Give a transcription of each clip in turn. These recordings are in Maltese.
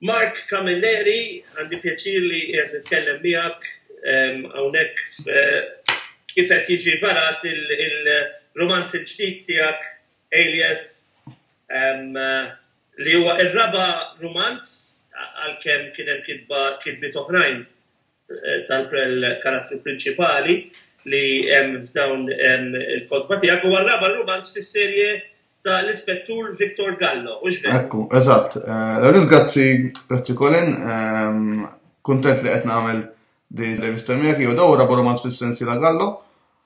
Mark Camilleri, għandi pjaċir li qed nitkellem miegħek ehm, hawnhekk kif qed jiġi varat il-romanz il-ġdid tiegħek Alias ehm, li huwa r-raba' romanz għalkemm kien hemm kitba kitbiet oħrajn tal-karattru prinċipali li hemm f'dawn il-kotba tiegħek huwa r-raba' rumanz fis-serje ta' l-Ispettur Victor Gallo, hux vera? Ekku, eżatt. Eh, L-għalin grazzi, grazzi Colin, ehm, kuntent li qed nagħmel din l-rivista miegħek jew dawra romanz fis-sensi la Gallo.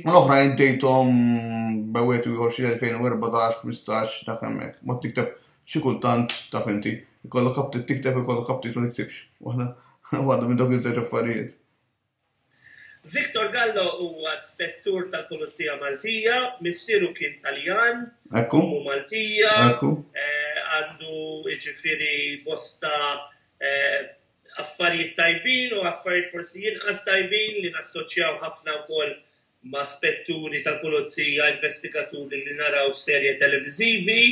U l-oħrajn bdejthom bewet u ieħor xi 2014, 15 dak hemmhekk. Mod tikteb xi kultant taf inti, ikollok kaptit tikteb ikollok kaptit ma tiktibx. Waħda waħda minn dawk iż-żewġ affarijiet. Victor Gallo huwa spettur tal-Pulizija Maltija, missieru kien Taljan, ommu Maltija, għandu jiġifieri bosta affarijiet tajbin u affarijiet forsi inqas tajbin li nassoċjaw ħafna wkoll ma' spetturi tal-pulizija, investigaturi li naraw f'serje televiżivi.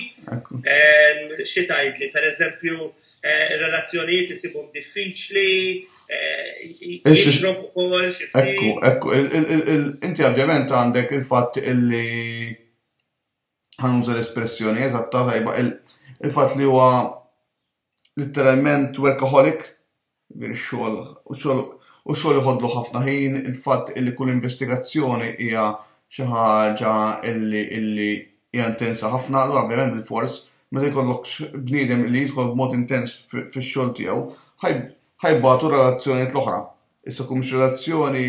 Xi tgħidli, pereżempju, eh, relazzjonijiet isibhom diffiċli, eh, jixrob ukoll xi Ekku, ekku, inti ovvjament għandek il-fatt illi ħanuża l-espressjoni eżatta tajba il-fatt li huwa litteralment workaholic, jiġifieri x-xogħol u x-xogħol u x-xogħol iħodlu ħafna ħin, il-fatt illi kull investigazzjoni hija xi ħaġa illi illi hija intensa ħafna, allura ovvjament bilfors meta jkollok bniedem li jidħol b'mod intens fix-xogħol tiegħu ħaj ħajbatu relazzjonijiet l-oħra. Issa kumx relazzjoni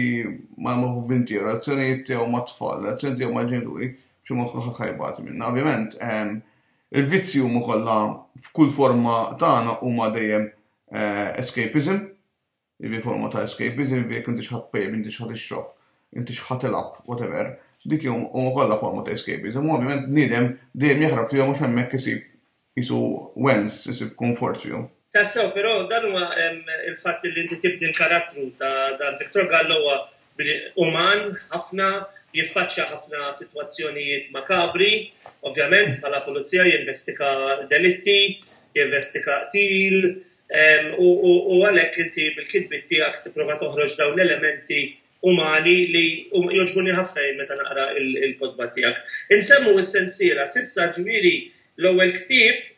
ma' maħbubin tiegħu, relazzjonijiet tiegħu mat-tfal, relazzjoni tiegħu mal-ġenituri, b'xi mod kulħadd ħajbati minna. Ovvjament, ehm, Il-vizzji huma kollha f'kull forma tagħna huma dejjem escapism, jiġifieri forma ta' escapism, jiġifieri jekk intix ħa tpejjep, intix ħa tixrob, intix ħa tilgħab, whatever, dik huma kollha forma ta' escapism u ovvjament bniedem dejjem jaħrab fihom għax hemmhekk isib qisu wens, isib kunfort fihom. Tassew, però dan huwa il-fatt li inti tibni l-karattru ta' dan Victor Gallo huwa uman ħafna, jiffaċċja ħafna sitwazzjonijiet makabri, ovvjament bħala pulizija jinvestiga delitti, jinvestiga qtil u għalhekk inti bil-kitbiet tiegħek tipprova toħroġ dawn l-elementi umani li jogħġbuni ħafna jien meta naqra l-kotba tiegħek. Insemmu s-sensiela, s'issa ġifieri l-ewwel ktieb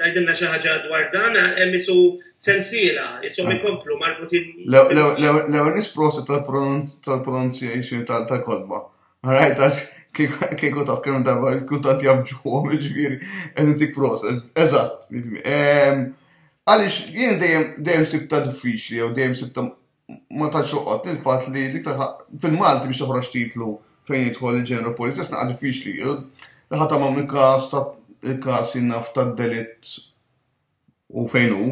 Tgħidilna xi ħaġa dwar dan hemm isu sensiela, ishom ikomplu marbutin. L-ewwel nisprosa tal-pronunciation tal-kolba. Rajt għax kieku taf kemm darba il-kuntat jafġuhom ġifieri qed intik prosa. Eżatt. Għaliex jien dejjem dejjem sibta diffiċli jew dejjem sibta ma tantx toqgħod il-fatt li l-iktar fil-Malti biex toħroġ titlu fejn jidħol il-ġeneru polizzest naqa' diffiċli. Naħa ta' ma' mikas il-kas jinnaf ta' delitt u fejn hu.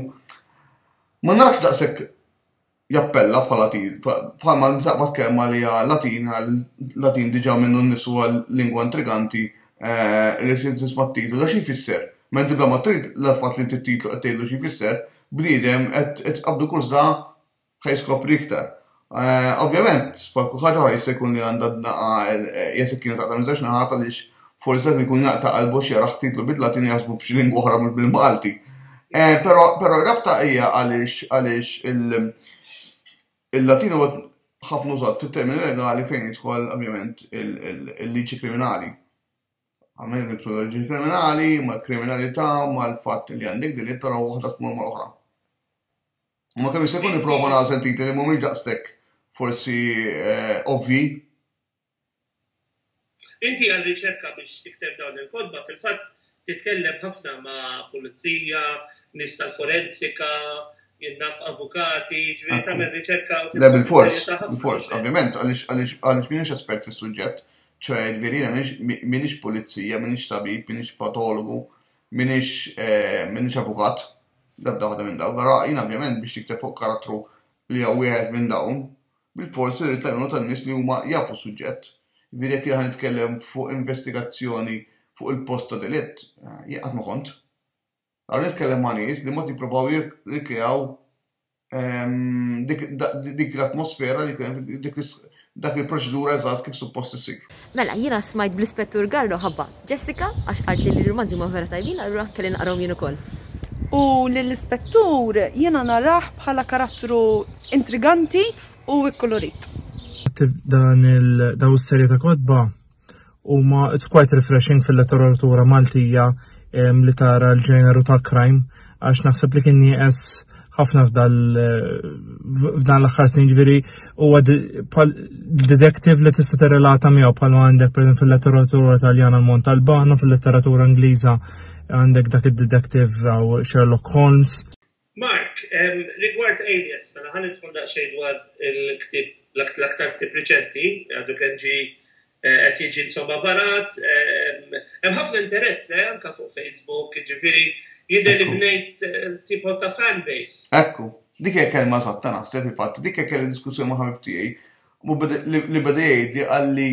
Ma nafx daqshekk jappella bħala bħalma nsaqbad kemm għalija Latin għal Latin diġà minnu nnisu għal lingwa intriganti eh, li xi tisma' titlu da xi jfisser. Mentu da ma trid l-fatt li titlu qed tgħidlu xi jfisser, bniedem qed tqabbdu kuża ħa jiskopri iktar. Eh, ovvjament, bħal kulħadd oħra jista' jkun li għandha dnaqa jekk kienet taqta' minn żewġ naħat għaliex forsi qed ikun jaqta' qalbu xi jaraħ titlu bid-Latin jaħsbu b'xi lingwa oħra mhux bil-Malti. Eh, però però rabta hija għaliex għaliex il-Latin huwa ħafna użat fit-termini legali fejn jidħol ovvjament il-liġi kriminali. Għamel metodoloġi kriminali, mal-kriminalità, mal-fatt li għandek din it-tara waħda tmur mal-oħra. Ma kemm se jkun nipprova nagħżel titli li mhumiex daqshekk forsi eh, ovvi. Inti għal riċerka biex tikteb dawn il-kodba, fil-fatt titkellem ħafna ma' pulizija, nies tal-forensika, jinnaf avukati, ġviri tagħmel riċerka u tibda bil-fors, bil-fors, ovvjament, għaliex minix espert fis-suġġett, ċoe jiġifieri jiena m'iniex pulizija, m'iniex tabib, m'iniex patologu, m'iniex eh, m'iniex avukat, l-ebda waħda minn dawk. Ara jiena ovvjament biex nikteb fuq karattru li hija wieħed minn dawn, bil-forsi rrid l-għajnuna tan-nies li huma jafu suġġett. Jiġifieri jekk jiena nitkellem fuq investigazzjoni fuq il-post ta' delitt, eh, jien qatt ma kont. Għad nitkellem ma' nies li mod jippruvaw jirrikreaw dik l-atmosfera li kien dak il-proċedura eżatt kif suppost isir. Mela, jiena smajt bl-Ispettur Garro ħabba Jessica għax qaltli li r-rumanzi huma vera tajbin allura kelli naqrahom jien ukoll. U lill-Ispettur jiena narah bħala karattru intriganti u kkulurit. Għad tibda dan u s-serje ta' kotba? Huma it's quite refreshing fil-letteratura Maltija li tara l-ġeneru ta' crime għax naħseb li kien nieqes ħafna f'dan l-aħħar snin ġviri huwa detektiv li tista' tirrelata miegħu bħal għandek per fil-letteratura Taljana l-Mont Albano, fil-letteratura Ingliża għandek dak id-detektiv għaw Sherlock Holmes. Mark, Rigward Aliens, mela ħa nidħol daqsxejn dwar il-ktieb, l-aktar ktieb riċenti, għadu kemm ġie qed jiġi insomma varat, hemm ħafna interess eh, anke fuq Facebook, jiġifieri jidher li bnejt tipo ta' fan base. Ekku, dik hija kelma eżatta naħseb fil-fatt, dik hija kelli diskussjoni ma' ħabib tiegħi li beda jgħidli qalli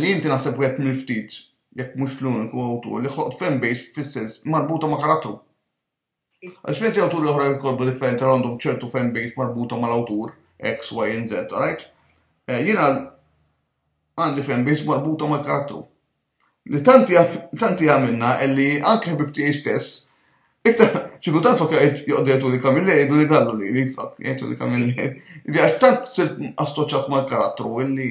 li inti naħseb wieħed mill-ftit, jekk mhux l-uniku awtur li ħloqt fanbase fis-sens marbuta ma' karattru. Għaliex mentri awturi oħra jkollbu differenti għal għandhom ċertu fanbase marbuta mal-awtur X, Y, and Z, alright? Eh, jiena għandi fanbase marbuta mal-karattru. Li tanti għamilna li anke ħbib tiegħi stess, iktar ċiku tant fakka joqdetu li kamille jgħidu li gallu li li fakk jgħidu li kamille. Għax tant assoċat mal-karattru illi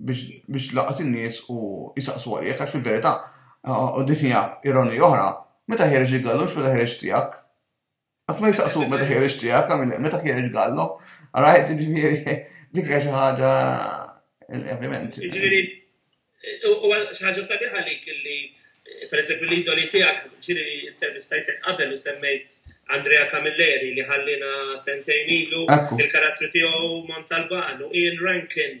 biex tlaqat in-nies u jsaqsu għalih, għax fil-verità, u din hija ironija oħra, meta ħiereġ il-gallu mhux meta ħiereġ tiegħek. Qatt ma jsaqsu meta ħiereġ tiegħek, għamil meta ħiereġ gallu. Għarajt, ġifieri, dik hija xi ħaġa ovvjament. Ġifieri, u xi ħaġa sabiħa li kelli per eżempju l-idoli tiegħek ġiri intervistajtek qabel u semmejt Andrea Camilleri li ħallina sentejn ilu il-karattru tiegħu Montalban u Ian Rankin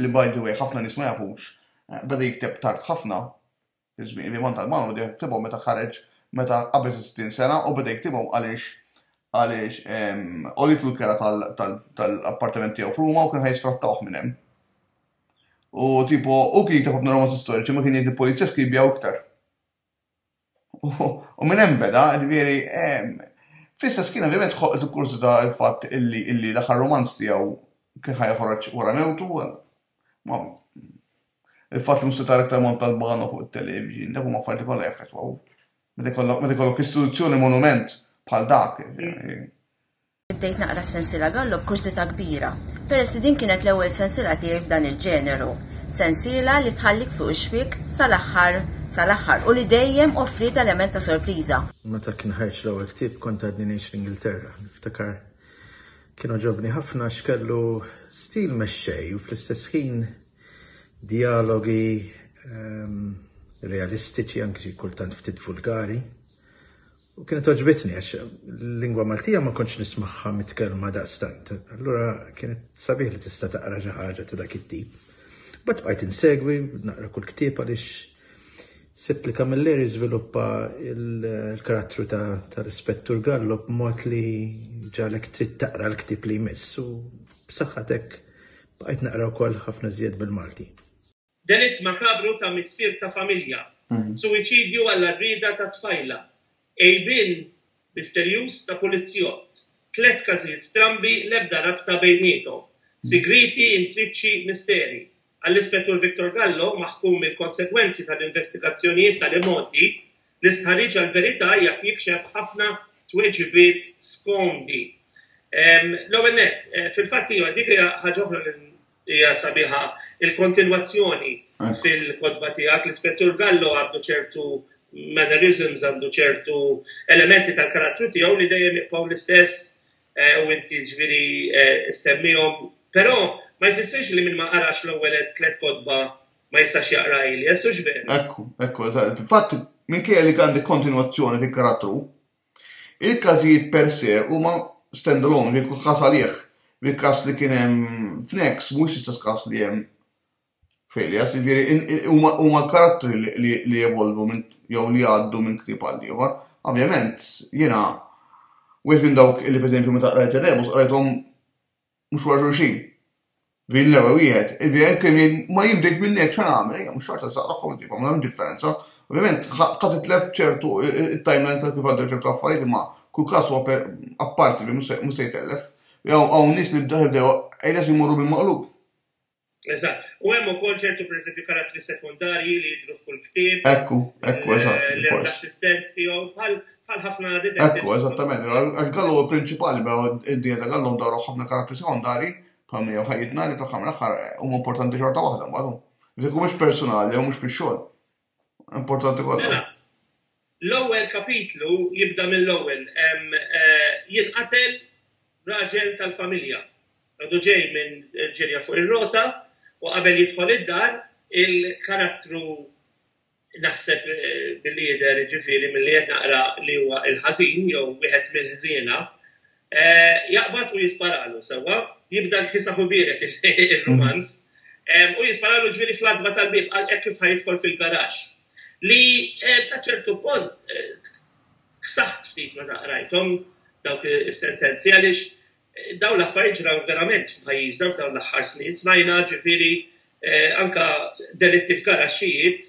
li by the way ħafna nies ma jafux, beda jikteb tard ħafna, fiż-żmien, il-Vivant Albano beda jiktibhom meta ħareġ meta qabeż is-sittin sena u beda jiktibhom għaliex għaliex għolitlu l-kera tal-appartament tiegħu f'Ruma u kien ħajsfrattawh minn hemm. U tipo, u kien jikteb ħafna romanzi storiċi ma kien jgħid il-pulizja skibjaw iktar. U minn hemm beda, ġifieri, fl-istess kien ovvjament ħolqtu kurżità l-fatt illi illi l-aħħar romanz tiegħu kien ħa joħroġ wara mewtu. Ma il-fatt li mhux se tara iktar Montalbano fuq it-television, dak huma affarijiet kollha jaffettwaw. Meta jkollok istituzzjoni monument bħal dak. Bdejt naqra s-sensiela Gallo b'kursità kbira, peress li din kienet l-ewwel sensiela tiegħi f'dan il-ġeneru. Sensiela li tħallik fuq ix-xwiek sal-aħħar sal-aħħar u li dejjem offriet element ta' sorpriża. Meta kien ħareġ l-ewwel ktieb kont għadni ngħix fl-Ingilterra. Niftakar kien għoġobni ħafna għax kellu stil mexxej u fl-istess ħin dialogi ehm, realistiċi anki kultant ftit vulgari U kienet oġbitni għax l-lingwa Maltija ma kontx nismagħha mitkellma daqstant. Allura kienet sabiħ li tista' taqra xi ħaġa ta' dak it-tip. Bat bqajt insegwi, naqra kull ktieb għaliex sibt li Camilleri żviluppa l-karattru tal-Ispettur Gallo b'mod li ġalek trid taqra l-ktieb li jmiss u b'saħħatek bqajt naqra wkoll ħafna żjed bil-Malti. Delitt makabru ta' missier ta' familja, suwiċidju għall-għarrieda ta' tfajla, għejbien misterjuż ta' pulizzjott, tliet każijiet strambi l-ebda rabta bejniethom, sigrieti intriċċi misteri. Għall-Ispettur Victor Gallo, maħkum mill-konsegwenzi tal-investigazzjonijiet tal-imgħoddi, l-istħarriġ għall-verità jaf jikxef ħafna tweġibiet skomdi. L-ewwel nett, fil-fatt iva, dik hija ħaġa oħra li Hija sabiħa il-kontinwazzjoni fil-kotba tiegħek. L-Ispettur Gallo għandu ċertu mannerisms, għandu ċertu elementi tal-karattru tiegħu li dejjem jibqgħu l-istess u inti ġifieri ssemmihom. Però ma jfissirx li min ma qarax l-ewwel tliet kotba ma jistax jaqra Elias, hux veru? Hekk hu, hekk hu. Fil-fatt, minkejja li għandek kontinwazzjoni fil-karattru, Il-każijiet per se huma stand-alone, wieħed jieħu każ għalih. Il-każ li kien hemm f'Next mhuwiex l-istess każ li hemm f'Alias, jiġifieri huma l-karattri li jevolvu minn jew li jgħaddu minn ktieb għal ieħor. Ovvjament, jiena wieħed minn dawk li pereżempju meta qrajt ir-Rebus qrajthom mhux wara xulxin. Vin l-ewwel wieħed, il-vin kemm jgħid ma jien bdejt minn hekk x'għan nagħmel, ejja mhux xorta żgħar tagħhom ġibha, ma hemm differenza. Ovvjament ħa titlef ċertu it-timeline ta' kif għaddew ċertu affarijiet imma kull każ huwa apparti li mhux se jtellef. Jew hawn nies li bdew bdew ejles imorru bil-maqlub. Eżatt. U hemm ukoll ċertu pereżempju karattri sekondarji li jidhru f'kull ktieb. Ekku, ekku, eżatt. Eh, li l-assistent tiegħu bħal ħafna detectives. Ekku, eżattament. Għax Gallu huwa prinċipali, mela id-dinja ta' Gallu ndaru ħafna karattri sekondarji bħal miegħu ħajjitna li fl-aħħar mill-aħħar huma importanti xorta waħda mbagħad. Dik mhux personali jew mhux fix-xogħol. Importanti kollha. Mela, l-ewwel kapitlu jibda mill-ewwel eh, jinqatel raġel tal-familja. Għadu ġej minn ġirja fuq ir-rota u qabel jidħol id-dar il-karattru naħseb eh, bil-lider ġifiri mill-li naqra li huwa il-ħażin jew wieħed mill-ħżiena Jaqbad u jisparalu, sewwa, jibda l-kisah u biered ir-rumanz, u jisparalu ġifieri fl-għatba tal-bieb, qal hekk kif ħa jidħol fil-garaxx. Li sa ċertu punt ksaħt ftit meta qrajthom dawk is-sentenzi għaliex dawn l-affarijiet ġraw verament f'pajjiżna f'dawn l-aħħar snin, smajna ġifieri anke delitti f'garaxxijiet,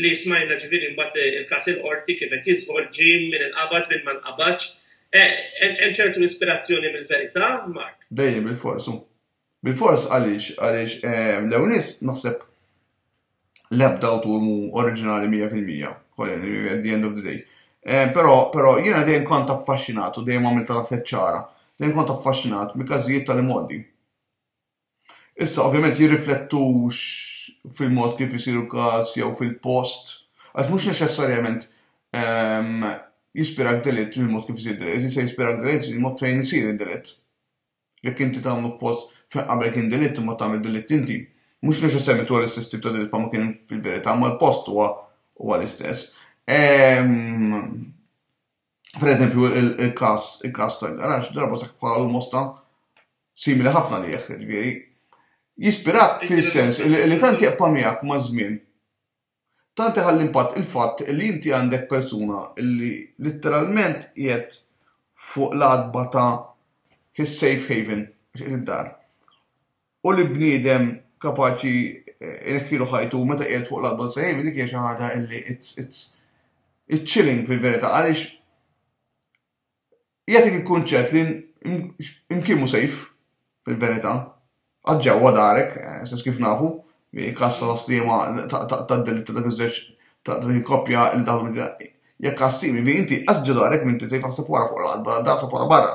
li smajna ġifieri mbagħad il-każ il-Qorti kif qed jiżvolġi, min inqabad, min ma nqabadx. Hemm ċertu ispirazzjoni mill-verità, Mark? Dejjem bilfors hu. Bilfors għaliex? Għaliex l-ewwel nett naħseb l-ebda awtur mhu oriġinali mija fil-mija, at the end of the day. Però però jiena dejjem kont affaxxinat u dejjem għamilta naħseb ċara, dejjem kont affaxxinat mill-każijiet tal-imgħoddi. Issa, ovvjament, jirriflettux fil-mod kif isir il-każ jew fil-post, għax mhux neċessarjament jispirak delitt il-mod kif isir delitt, jista' jispirak delitt il-mod fejn isir id-delitt. Jekk inti tagħmlu f'post fejn qabel kien delitt imbagħad tagħmel delitt inti, mhux neċessarjament huwa l-istess tip ta' delitt bħalma kien fil-verità, imma l-post huwa huwa l-istess. per eżempju, il-kas, il-kas ta' garax, darba saħ bħal mosta simili ħafna li jieħ, ġviri. Jispirak fil-sens li tanti jaqpa miegħek ma' żmien. Tanti ħalli impatt il-fatt li inti għandek persuna li literalment jgħet fuq l-adba ta' his safe haven, id-dar. u li bniedem kapaċi ineħħilu ħajtu meta qiegħed fuq l-adba sejf, dik hija xi ħaġa li it's, it's, it's chilling fil-verità għaliex jagħtik il-kunċett li imkien mhu sejf fil-verità. Għad ġewwa darek, eh, sens kif nafu, kassa ta' stiema ta' delitt ta' dak iż-żewġ ta' dik il-koppja il dawn Jekk għassir, jiġifieri inti inqas ġo darek m'inti se jfaħseb wara fuq l-art barra d-dar, wara barra.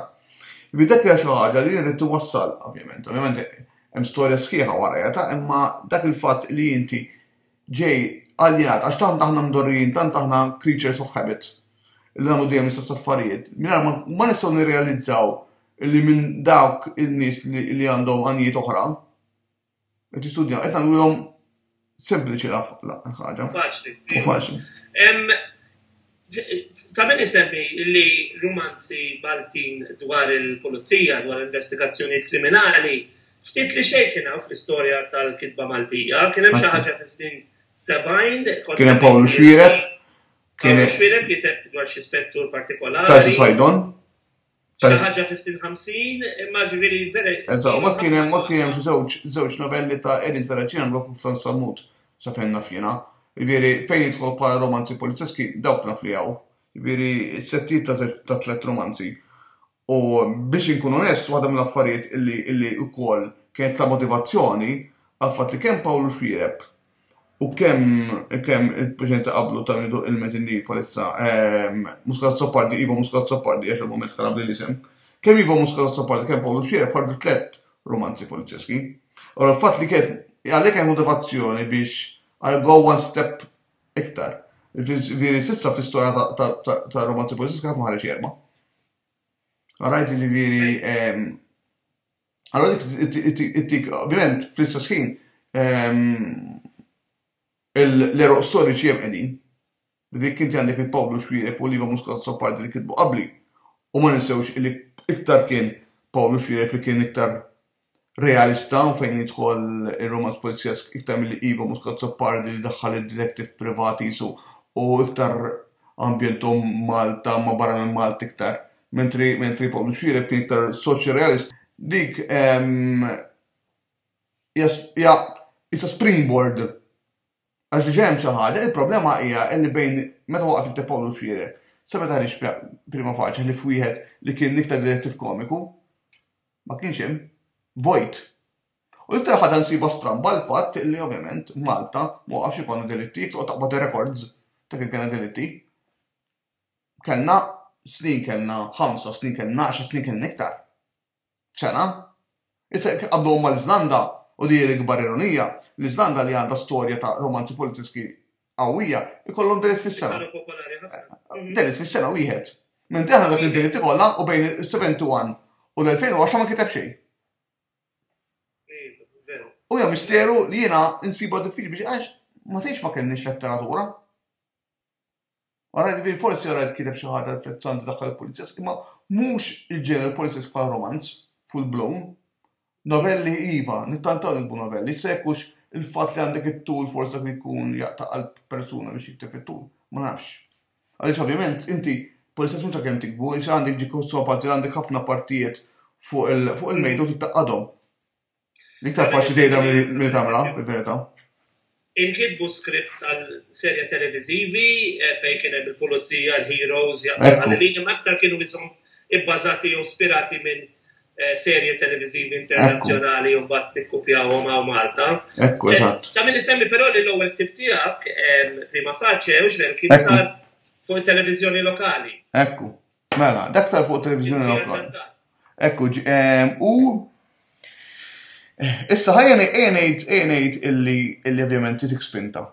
Jiġifieri dak hija xi ħaġa li jien ridt inwassal, ovvjament. Ovvjament hemm storja sħiħa warajha ta' imma dak il-fatt li inti ġej aljenat għax tant aħna mdorrijin, tant aħna creatures of habit li nagħmlu dejjem l-istess affarijiet, mingħajr ma nistgħu nirrealizzaw li minn dawk in-nies li għandhom għanijiet oħra, Qed jistudja, qed nagħmluhom sempliċi l-ħaġa. Faċli. U faċli. Ta' min isemmi li rumanzi Maltin dwar il-pulizija, dwar investigazzjonijiet kriminali, ftit li xejn kien hawn fl-istorja tal-kitba Maltija, kien hemm xi ħaġa fis-snin 70. Kien hemm Paul Xwirek. Paul Xwirek kiteb dwar xi spettur partikolari. Tarsi Sajdon. Xi ħaġa fis-snin 50, imma ġifieri vera. Eżatt, ma kien hemm ma kien hemm żewġ żewġ novelli ta' Edin Saracina l-Wakuf ta' Sammut sa fejn naf jiena. Ġifieri fejn jidħol bħala romanzi polizzeski dawk naf li hawn. Ġifieri settijiet ta' tliet romanzi. U biex inkun onest, waħda mill-affarijiet illi illi wkoll kienet ta' motivazzjoni għal fatt li kemm Pawlu Xwiereb U kemm kemm il-preċedenti ta' qablu ta' min iduq ilment in-Nil bħalissa, ehm, Muscat Azzopardi, Ivo Muscat Azzopardi, għax il-mument kara bli l-isem, kemm Ivo Muscat Azzopardi, kemm Pawlu Xiereb ħarġu tlett rumanzi polizjeski. Allora l-fatt li kien għalhekk hemm motivazzjoni biex I go one step iktar. Viri sissa fl-istorja ta' romanzi polizjeski ħadd ma ħareġ jerma. Għarajt ġifieri ehm, Allora dik ovvjament fl-istess ħin ehm, l-eroq storiċi hemm qegħdin. Dik inti għandek il-Pawlu Xwirek u Liva Muscat Soppardi li kitbu qabli. U ma ninsewx li iktar kien Pawlu Xwirek li kien iktar realista u fejn jidħol il-romanz polizjesk iktar mill Ivo Muscat Soppardi li daħħal il-detektiv privati jisu u iktar ambjentom Malta ma barra minn Malta iktar Mentri, mentri Paul Mxire kien iktar soċi realist, dik ja isa springboard għax diġa hemm xi ħaġa, il-problema hija li bejn meta waqaf jikteb Paul Mxire, seba' taħriġ prima faċi li f'wieħed li kien iktar direttiv komiku ma kienx hemm vojt. U iktar ħaġa nsiba stramba l-fatt li ovvjament Malta ma waqafx ikun delitti, toqgħod taqbad rekords ta' kien kien delitti. Kellna snin, kellna ħamsa snin, kellna għaxar snin, kellna iktar. F'sena. Issa jekk tqabbluhom mal-Iżlanda, u din hi l-ikbar ironija, l-Iżlanda li għandha storja ta' romanzi poliziski qawwija, ikollhom delitt fis-sena. Delitt fis-sena wieħed. Mentri aħna dak id-delitti kollha u bejn is-71 u l-2010 ma nkiteb xejn. U hija misteru li jiena nsibha diffiċli biex għax ma tgħidx ma kellniex letteratura. Wara li din forsi jara li kien hemm xi ħaġa frizzanti daħħal il-policies, imma mhux il-ġeneru policies bħal romanz, full blown. Novelli iva, nittantaw nikbu novelli, se jkunx il-fatt li għandek it-tul forsi dak li jkun jaqta' qalb persuna biex jikteb fit-tul, ma nafx. Għaliex ovvjament inti policies mhux għalkemm tikbu, għaliex għandek ġiku sopat li għandek ħafna partijiet fuq il-mejda u tittaqqadhom. Iktar faċli tgħidha milli tagħmilha, fil-verità. Inkitbu scripts għal serja televiżivi eh, fejn kien hemm il-pulizija, l-heroes, jaqbel ma aktar kienu jisom ibbażati jew spirati minn eh, serje televiżivi internazzjonali jew bat nikkupjawhom hawn Malta. Ekku, eh, eżatt. Ta' min isemmi però li l-ewwel tip tiegħek prima faċe u x'ver kien sar fuq it-televiżjoni lokali. Ekku. Mela, dak sar fuq televizjoni lokal. Ekku, ehm, u issa ħajja ngħid ngħid illi illi ovvjament titik spinta.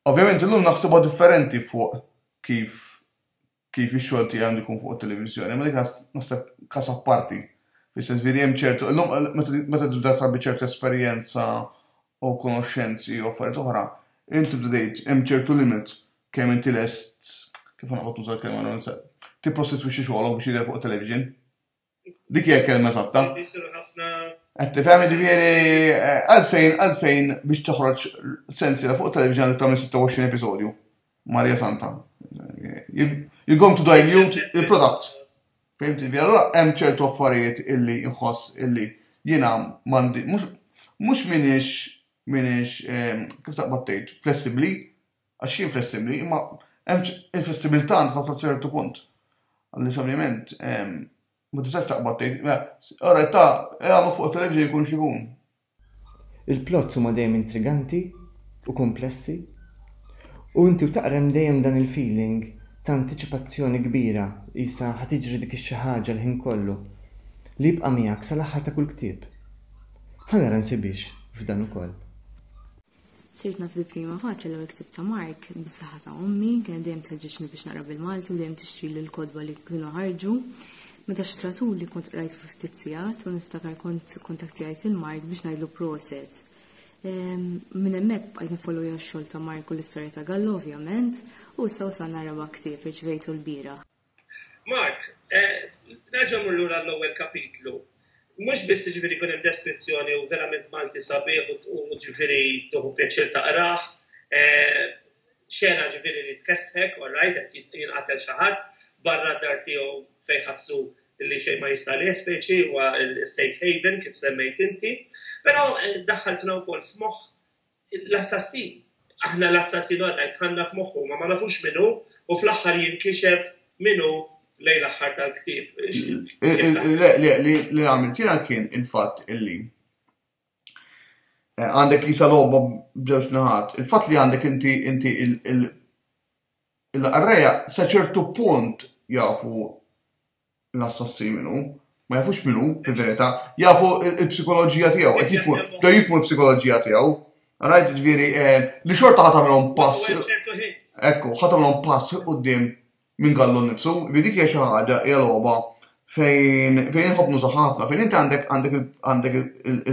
Ovvjament illum naħsibha differenti fuq kif kif ix-xogħol tiegħi għandu jkun fuq it-televiżjoni, ma dik naħseb kas apparti. Fis-sens veri hemm ċertu, illum meta tibda trabi ċertu esperjenza u konoxxenzi u affarijiet oħra, int tibda tgħid hemm ċertu limit kemm inti lest, kif ħa noqgħod nuża l-kelma non se, tipprostitwixxi xogħolok biex jidher fuq it-television. Dik hija l-kelma eżatta. Qed tifhem jiġifieri eh, għalfejn għalfejn biex toħroġ sensiela fuq it-television għandek tagħmel 26 episodju. Maria Santa. You're going to dilute il-product. Fim TV, allora hemm ċertu affarijiet illi nħoss illi jiena mandi, mhux minix minix ehm, kif taqbad tgħid, flessibbli, għax jien flessibbli, imma hemm il-flessibilità għandha sa ċertu punt. Għalli ovvjament ehm, ma tistax taqbad tgħid, ora ta' għamlu fuq television jkun xi jkun. Il-plots huma dejjem intriganti u kumplessi u inti u taqra hemm dejjem dan il-feeling ta' antiċipazzjoni kbira qisha ħa tiġri dik ix-xi ħaġa l-ħin kollu li jibqa' miegħek sal-aħħar ta' kull ktieb. Ħa nara nsibhiex f'dan ukoll. Sirt naf bil-prima faċċa l ksib ta' Mark bis-saħħa ta' ommi, kien dejjem tħeġġeġni biex naqra bil-Malti u dejjem tixtri l kodba li kienu ħarġu. Meta xtratu li kont qrajt fuq ftit sigħat u niftakar kont kontaktijajt il-Mark biex ngħidlu proset. Ehm, minn hemmhekk bqajt nifollow x-xogħol ta' Mark u l-istorja ta' Gallo ovvjament u issa wasalna raba' ktieb irċivejtu l-bira. Mark, nerġa' mmur lura għall-ewwel kapitlu. Mhux biss jiġifieri jkun hemm deskrizzjoni u verament Malti sabiħ u jiġifieri tieħu pjaċir taqrah, xena jiġifieri li tkessħek, all right, qed jinqatel xi ħadd barra d-dar tiegħu fejn jħassu li xejn ma jista' għalih speċi huwa s-safe haven kif semmejt inti. Però daħħaltna wkoll f'moħħ L-assassin. Aħna l-assassin għadna jtħanna f'moħħu ma ma nafux min hu u fl-aħħar jinkixef min hu lejn l-aħħar tal-ktieb. Le, le, li għamilt jiena kien il-fatt illi eh, għandek jisa logħba b'ġewġ naħat. Il-fatt li għandek inti inti il-qarreja sa ċertu punt jafu l-assassinu, ma jafux min hu, fil-verità, jafu l-psikoloġija tiegħu, qed jifmu, bdew jifmu l-psikoloġija tiegħu. Rajt ġifieri eh, li xorta ħadd għamilhom pass. Ekku, ħadd għamilhom pass quddiem minn gallu nnifsu, vi dik hija xi ħaġa hija logħba fejn fejn inħobb nuża ħafna, fejn inti għandek għandek għandek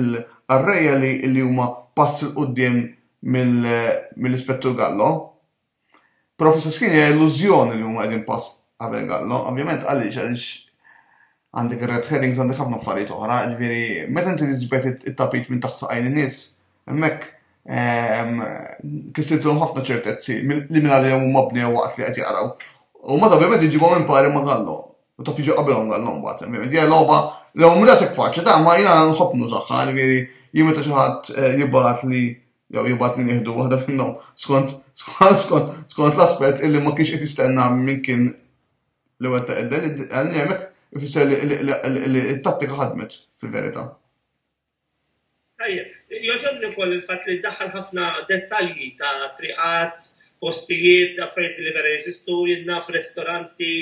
il-arreja li huma pass il quddiem mill-ispettur Gallo, Prof. Saskini hija illużjoni li huma qegħdin pass qabel Gallo, ovvjament għaliex għaliex għandek ir-red herrings għandek ħafna affarijiet oħra, ġifieri meta inti tiġbed it-tapit minn taħt saqajn in-nies, hemmhekk ehm, kistiltilhom ħafna ċertezzi li minn għalihom huma bnew waqt li qed jaqraw. U ma ovvjament iġibhom impari ma' Gallo. U taf jiġi qabilhom Gallo mbagħad, ovvjament. Hija logħba l-ewwel rasek faċli ta' ma jiena nħobb nużaħħa, ġifieri jien meta xi ħadd eh, jibgħat li jew jibgħat min jieħdu waħda minnhom skont skont l-aspett illi ma kienx qed jistenna min kien li wettaq id-delitt għal hemmhekk ifisser li t-tattika ħadmet fil-verità. Tajjeb, jogħġobni wkoll il-fatt li ddaħħal ħafna dettalji ta' triqat, postijiet, affarijiet li vera jeżistu, jien naf ristoranti,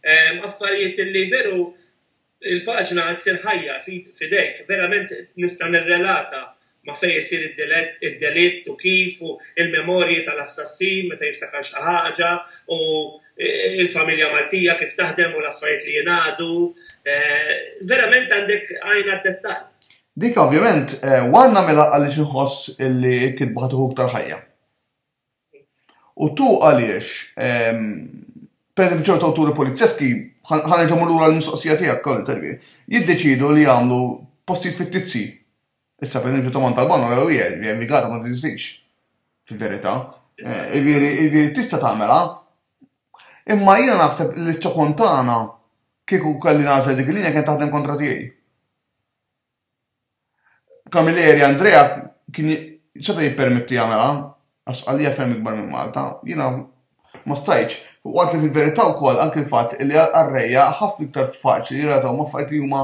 ehm, affarijiet li veru Il-paġna Issir Ħajja f'idejk, verament nista' nirrelata ma' fejn isir id-delitt u kif u l-memorji tal-assassin meta jiftakar xi ħaġa u l-familja Maltija kif taħdem u l-affarijiet li jingħadu. Verament għandek għajn għad-dettall. Dik ovvjament, one nagħmilha għaliex inħoss li l-kitba ħa tieħu iktar ħajja. U tu għaliex, per eżempju, ċertu awturi polizzeski, ħa nerġa' mmur lura l-mistoqsija tiegħek, Karl Terghi, jiddeċiedu li jagħmlu postijiet fittizji. Issa, per eżempju, Tomon Talbano rew hija, jiġifieri Rigata ma teżistix fil-verità. Jiġifieri tista' tagħmilha. Imma jiena naħseb li ċ-ċokon tagħna kieku kelli nagħżel dik il-linja kienet taħdem kontra tiegħi. Camilleri Andrea kien seta' jippermetti jagħmilha għax għalija ferm ikbar minn Malta. Jiena ma stajtx. U għad li fil-verità wkoll anki l-fatt li għar-rejja ħafna iktar faċli jirrelatawhom ma' affarijiet li huma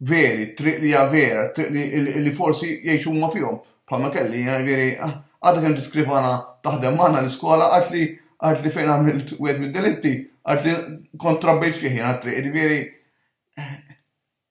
veri, t-triq li hija vera, t-triq li forsi jgħixu huma fihom. Bħalma kelli jiena jiġifieri għadha kemm tiskrivana taħdem magħna l-iskola għad li għad li fejn għamilt wieħed mid-delitti għad li kont trabbejt fih jiena t-triq jiġifieri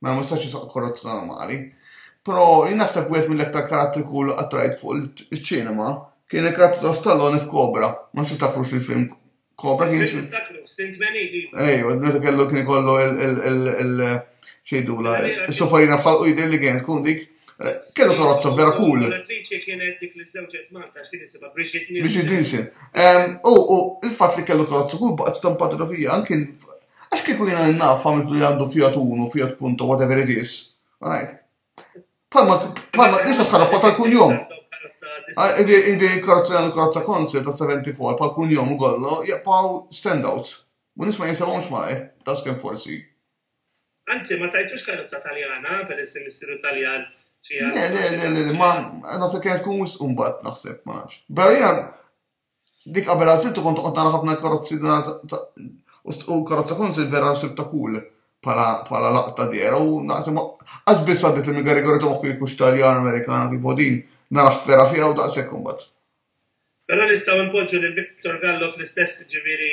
Mela ma nistax nisaq korrozza normali. Però jien naħseb wieħed mill-aktar karattri cool li qatt rajt fuq iċ-ċinema kien il-karattru ta' Stallone f'Cobra. Ma nafx tiftakrux li film Cobra kien jismi. Niftakru, f'sin 80 iva. Ejwa, meta kellu kien ikollu il-xejdula, il-sofarina f'ħalqu jidher li kienet tkun dik. Kellu karozza vera cool. L-attriċi kienet dik li żewġet Malta, x'kien isimha Brigitte Nielsen. Brigitte Nielsen. U il-fatt li kellu karozza cool baqgħet stampata fija anke Għax kieku jiena li naf għamiltu li għandu Fiat Uno, Fiat Punto, whatever it is, għajt. Palma, palma, jisa s-sarra fuq tal-kunjom. Ibi karza għandu karza konsil ta' 74 pal kunjom u gollo, jaqpaw standouts. U nisma jinsawomx maħi, ta' skem forsi. Anzi, ma tajtux karza taljana, per essi missiru taljan. Le, le, le, le, ma, għana se kienet kun wis umbat naħseb, ma nafx. Bella Dik qabel għażiltu kont toqgħod tara ħafna karozzi u karozza kunsil vera nsib ta' kull pala laqta dera u naqsem għax biss għaddit li migari għarri tomaħ kif kux taljan amerikana kif bodin naraħ vera fija u daqsek kumbat. Pero nistaw npoġġu lil Victor Gallo fl-istess ġiviri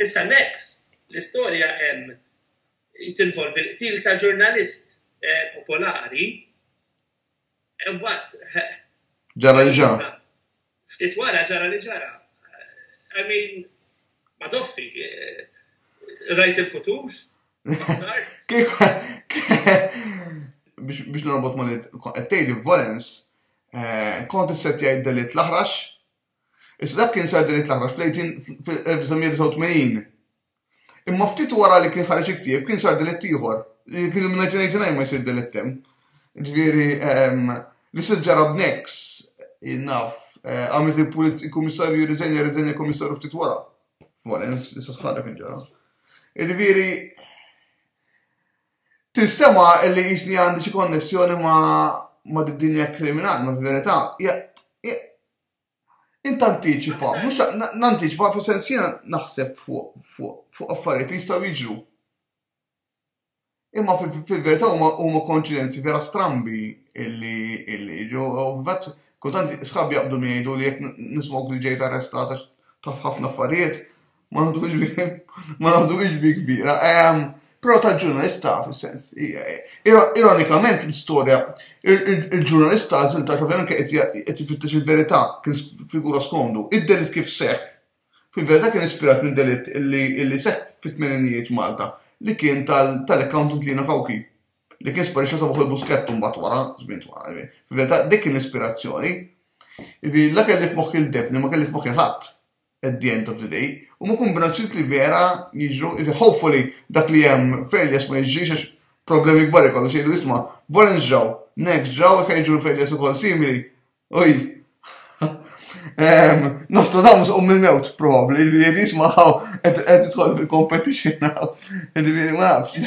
Issa next, l-istorja hemm tinvolvi l-qtil ta' ġurnalist popolari, imbagħad Ġara li ġara. Ftit wara ġara li ġara. I mean, ma doffi, rajt il-futur, start. Biex norbot ma li qed tgħid volens, kont issettjajt delit l-aħrax Issa dak kien sar din it l-aħħar fl-18 fil-1989. Imma ftit wara li kien ħareġ il-ktieb kien sar delitt ieħor, li kien minn 1989 ma jsir delitt hemm. Ġifieri ehm, li se ġara b'Nex, naf, eh, għamilt il-kummissarju riżenja riżenja kummissarju ftit wara. Valens, issa sħalek kien ġara. Ġifieri tinstema li jisni għandi xi konnessjoni ma' ma' dinja kriminali, ma' verità, Int antiċipa, mhux nantiċipa fi sens jiena naħseb fuq affarijiet li jistgħu jiġru. Imma fil-verità huma konċidenzi vera strambi illi ġo vet kultant sħab jaqbdu jgħidu li jekk nismok li ġejt arrestata taf ħafna affarijiet, Ma naħduhiex bi, ma naħduhiex bi kbira. Ehm, Pero tal-ġurnalista, fil-sens, ironikament l-istoria, il-ġurnalista għazil ta' xovjan qed jifittex il-verità, kien figura skomdu, id-delit kif seħ, fil-verità kien ispirat minn delit li seħ fit-tmeninijiet Malta, li kien tal-accountant Lina Kawki, li kien sparixxa sabuħ il-buskett mbagħad wara, żmien wara, fil-verità dik kien l-ispirazzjoni. Ivi, la kelli f'moħħi l-defni, ma kelli f'moħħi ħadd. at the end of the day, huma kombinazzjonijiet li vera jiġru, hopefully dak li hemm failures ma jiġrix għax problemi kbar ikollu xi jgħidu isma' Volens ġraw, Next ġraw jekk jiġru failures ukoll simili. Uj. Ehm, Nostradamus um il-mewt probabbli li jgħid isma' qed tidħol fil-competition now. Ġifieri ma nafx.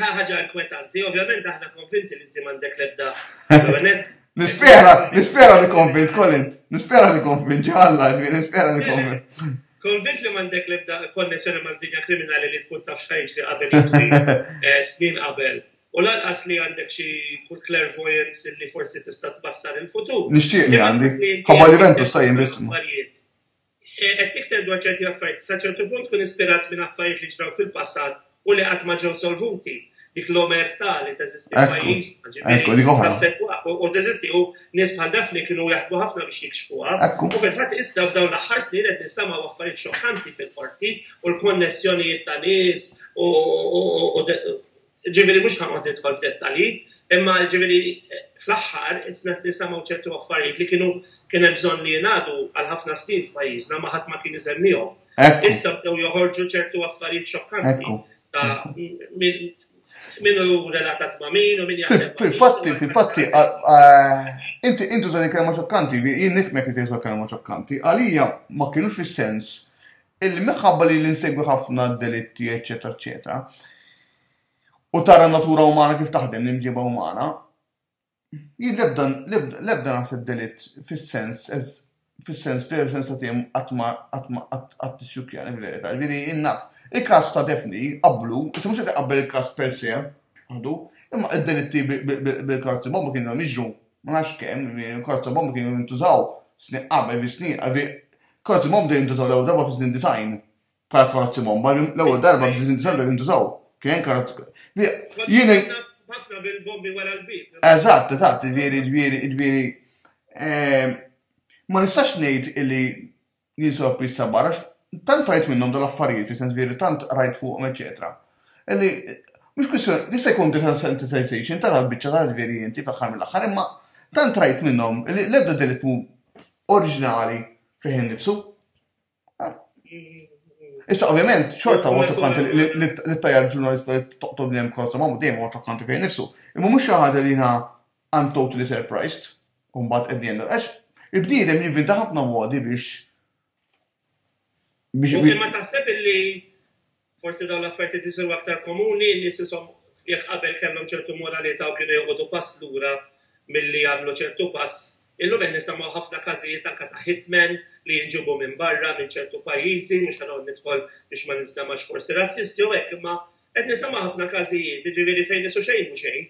Ħaġa inkwetanti, ovvjament aħna konvinti li inti m'għandek l-ebda Nispera, nispera li konvint, Colin. Nispera li konvint, ġalla, nispera li konvint. Konvint li mandek li bda konnessjoni ma' dinja kriminali li tkun taf xħajġ li qabel eh, snin qabel. U lanqas li għandek xi clairvoyance li forsi tista' tbassar il-futur. Nixtieq li għandi. Ħabba Juventus ta' jien Qed tikteb dwar ċerti affarijiet li sa ċertu punt tkun ispirat minn affarijiet li ġraw fil-passat u li qatt ma ġew solvuti. Dik l-omertà li teżisti f'pajjiżna, ġifieri, taffettwak u teżisti u nies bħal Daphne kienu jaħdmu ħafna biex jikxfuha. U fil-fatt issa f'dawn l-aħħar snin qed nisimgħu affarijiet xokkanti fil-Qorti u l-konnessjonijiet ta' nies u Ġifieri mhux ħanoqgħod nidħol f'dettalji, imma ġifieri fl-aħħar isna qed nisemgħu ċertu affarijiet li kienu kien hemm bżonn li jingħadu għal ħafna snin f'pajjiżna ma ħadd ma kien isemmihom. Issa bdew joħorġu ċertu affarijiet xokkanti ta' min hu relatat ma' min u min jaħdem. Fil-fatti, fil-fatti, inti intu żoni kelma xokkanti, jien nifmek li tgħid kelma xokkanti, għalija ma kienux fis-sens Illi minħabba li li nsegwi ħafna d-delitti eċċetera eċċetera u tara n-natura umana kif taħdem, l-imġiba umana, jien l-ebda l-ebda naħseb delitt fis-sens fis-sens veru sensattiv qatt ma qatt tissjukkjani fil-verità. Ġifieri jien naf il-każ ta' Daphne qablu, issa mhux qed iqabbel il-każ per se, imma d-delitti bil-karzi bomba kienu jiġru Ma nafx kemm, il-karozza bomba kienu jintużaw snin qabel, fi snin, għalbi, karozzi bomba bdew jintużaw l-ewwel darba fi snin design. Bħala karozzi bomba, l-ewwel darba fi snin design bdew jintużaw. Kien karozzi. Jien. Ħafna bil-bombi wara l-bib. Eżatt, eżatt, ġvieri, ġvieri, ġvieri. Ehm, ma nistax ngħid illi Jinsab jissabbar għax tant rajt minnhom dawn l-affarijiet fi sens veri tant rajt fuqhom eċetera. Illi mhux kwistjoni, jista' jkun desensitization tara l-biċċa tal-veri inti fl-aħħar mill-aħħar imma tant rajt minnhom li l-ebda delitmu oriġinali fih innifsu. Issa ovvjament xorta huwa xokkant li tajjar ġurnalista li toqtol bnem kollu ma' dejjem huwa xokkanti fejn nifsu. Imma mhux xi ħaġa li jiena I'm totally surprised, u mbagħad at the end, għax il-bniedem jinvinta ħafna modi biex. Biex Mumkin ma taħseb illi forsi dawn l-affarijiet qed jisiru aktar komuni li sisom jekk qabel kellhom ċertu moralità u kienu joqogħdu pass lura milli jagħmlu ċertu pass. Illum qed nisimgħu ħafna każijiet anke ta' hitmen li jinġibu minn barra minn ċertu pajjiżi, mhux ħanoqgħod nidħol biex ma ninstemax forsi razzisti u hekk, imma qed nisimgħu ħafna każijiet, jiġifieri fejn isu xejn mhu xejn.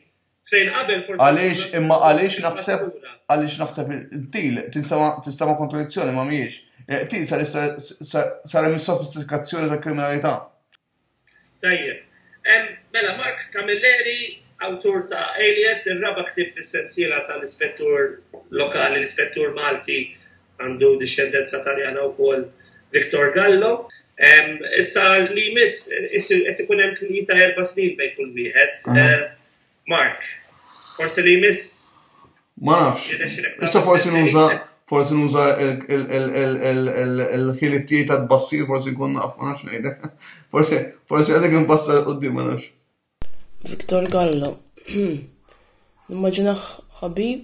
Fejn qabel forsi. Għaliex, imma għaliex naħseb, għaliex naħseb il-til, tista' ma' kontradizzjoni ma' miex. Eh, til sar hemm sofistikazzjoni ta' kriminalità. Tajjeb. Mela, Mark Camilleri, awtur ta' Alias, ir-raba' ktib fis-sensiela tal-ispettur lokali, l-ispettur Malti Għandu dixxendenza Taljana wkoll Victor Gallo. Issa li jmiss isir qed ikun hemm tlieta erba' snin bejn kull wieħed. Mark, forsi li jmiss. Ma nafx. Issa forsi nuża forsi nuża il-ħiliet tiegħi ta' tbassir, forsi nkun naf, ma nafx ngħidlek. Forsi forsi għadek inbassar qudiem ma nafx. Victor Gallo, Nimmaġinah ħabib,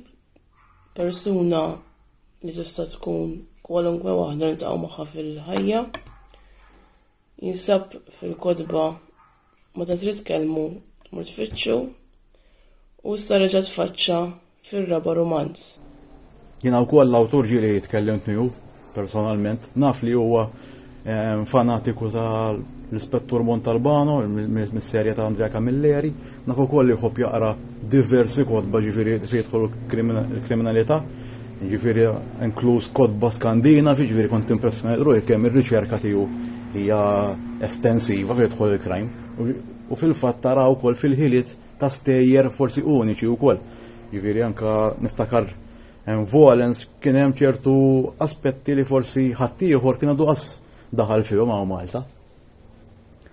persuna li tista' tkun kwalunkwe waħda niltaqgħu magħha fil-ħajja. Jinsab fil-kotba meta trid tkellmu mur tfittxu u issa reġa' tfaċċa fir-raba' rumanz. Jiena wkoll l-awtur ġieli tkellimt miegħu personalment, naf li huwa eh, fanatiku tal l-ispettur Montalbano, mis-serja ta' Andrea Camilleri, naf ukoll li jħobb jaqra diversi kodba ġifieri se jidħol kriminalità, ġifieri inkluż kodba skandina, ġifieri kont impressjonat ruħi kemm ir-riċerka tiegħu hija estensiva fi jidħol il-krajm. U fil-fatt tara wkoll fil-ħiliet ta' stejjer forsi uniċi u koll. Jiviri anka niftakar hemm volens kien hemm ċertu aspetti li forsi ħaddieħor kien għadu qas daħal fihom ma' Malta.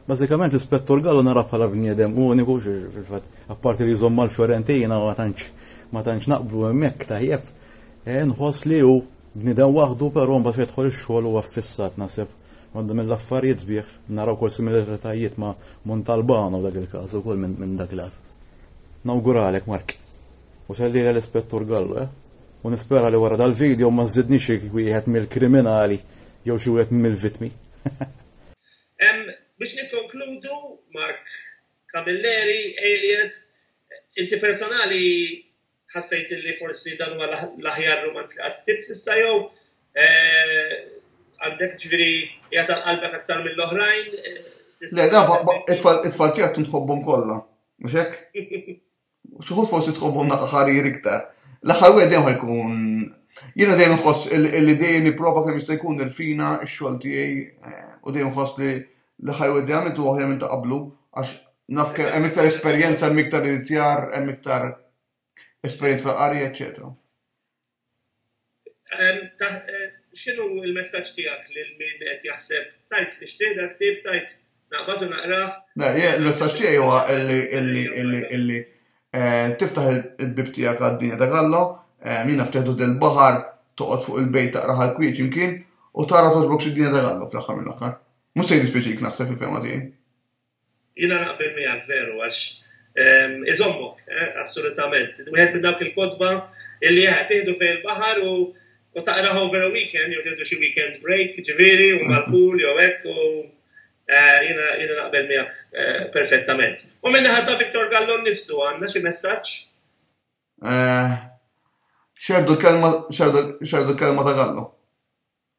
Bażikament l-ispettur Gallo nara bħala bniedem uniku fil-fatt apparti li jżomm mal-Fiorentina ma tantx ma tantx naqblu hemmhekk tajjeb. E, nħoss li hu bniedem waħdu però mbagħad fejn ix-xogħol huwa fissat naħseb Għandu minn l-affarijiet sbieħ naraw kol similaritajiet ma' Montalbano dak il-każ ukoll minn min dak il-għad. Nawguralek Mark. U sellira l-Ispettur Gallo, eh? U nispera li wara dal-video ma żidni xi wieħed mill-kriminali jew xi wieħed mill-vitmi. Biex nikkonkludu, Mark Camilleri, alias, inti personali ħassejt li forsi dan huwa l-aħjar rumanz li qatt ktibt s'issa jew eh, għandek ġviri jgħat għal-qalbek aktar mill-oħrajn. Eh, Le, da, it-tfal tijak tun tħobbom kolla, muxek? Xuħu forsi tħobbom naqqa ħarir iktar. L-axar u għedem ħajkun. Jena dejjem nħoss li dejjem niprofa kemm jista' jkun il-fina x-xogħol tiegħi eh, u dejjem nħoss li Li ħa jgħidli għamilt huwa aħjar minn ta' qablu għax naf kemm hemm iktar esperjenza, hemm iktar inizjar, hemm iktar esperjenza ta' qari, eċċetera. X'inhu l-messaġġ tiegħek lil min qed jaħseb tajt nixtri dak tib tajt naqbad u naqrah? Le, l-messaġġ tiegħi huwa illi eh, tiftaħ il-bib tiegħek għad-dinja ta' Gallo, eh, jiena ftehdu del baħar toqgħod fuq il-bejt taqra ħal-kwieċ imkien u tara toġbok xi dinja ta' Gallo fl-aħħar mill-aħħar. Mhux se jiddispjaċik naħseb fil-fehma tiegħi. Jiena naqbel miegħek veru għax ehm, iżommok, eh, assolutament. Wieħed minn dawk il-kotba illi jaħed eh, tieħdu fejn il-baħar u u taqra over a weekend, jew tieħdu xi weekend break, ġifieri, u mal-pool jew hekk u eh, jiena naqbel miegħek perfettament. U minn ħadd ta' Viktor Gallon nifsu għandna xi messaġġ? Xerdu kelma xerdu kelma ta' Gallo.